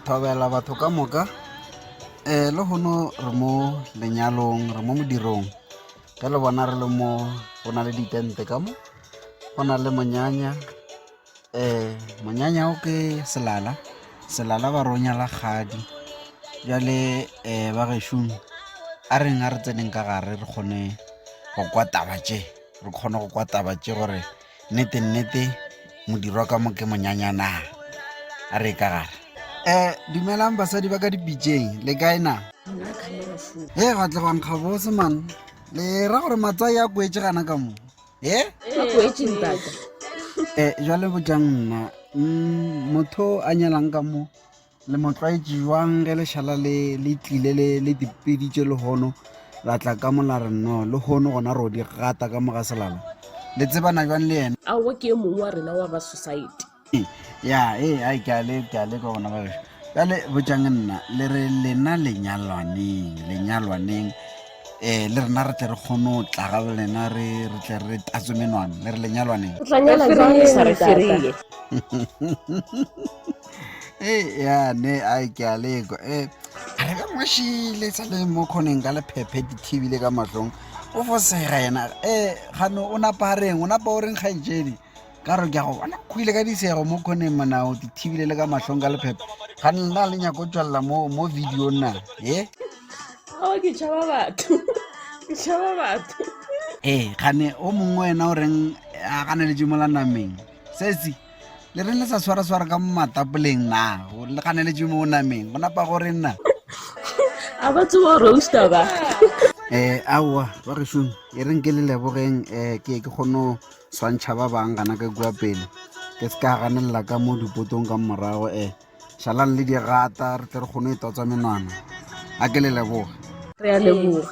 Thobela batho ka moka, lehono re mo lenyalong, re mo modirong ge le bona re le mo go na le di tente ka mo, go na le monyanya, monyanya o ke selala, selala ba re o nyala kgadi. Bjale ba gešong a reng a re tseneng ka gare re kgone go kwa taba tše, re kgone go kwa taba tše gore. Nnete nnete modirwa ka mo ke monyanyana. A re ka gare. Eh, dumelang basadi ba ka dipitšeng, le kae na? He, ga tle bang gabose man. Le ra gore matsai a kwetse gana ka mo. He? Eh, jwale botjang nna. Mm, motho a nyalang ka mo. Le mo tlwaetše bjang ge lešala le le tlile le le dipeditše lehono la tla ka mo la re no lehono gona ro di gata ka mo ga selala le tsebana bjang le yena aowa ke e mongwe wa rena wa ba society ya e a ke a le ke a le ka gona ba ka le botšang nna le re lena lenyalwaneng lenyalwaneng eh le rena re tle re kgone go tla ga lena re re tle re tatso menwana le re lenyalwaneng o tla nyala jang le sa re ferile ya ne a ke a lekwa um re ka ngwešile sa le mo kgoneng ka lephephe di thibile ka mahlong o fosega yena um gano o napa a reng o napa o reng kgaetšedi ka re ke a go bona go ile ka disego mo kgoneng monao di thibile le ka mahlong ka lephephe ga nna le nyako o tswalela mo mo video na e ao ke tšhaba batho ke tšhaba batho ee gane o mongwe wena o reng a ganeletše mola nameng sesi le reng le sa swara-swara ka matapoleng na le ganeletše mo o nameng go napa gore nna a ba tsewa roaster ba um aowa ba gešong e reng ke le lebogeng um ke ke kgone go swantšha ba bang gana ka kua pele ke se ka ganelela ka mo dipotong ka morago um šalang le dirata re tle re kgone e totswa menwana a ke le leboga re a leboga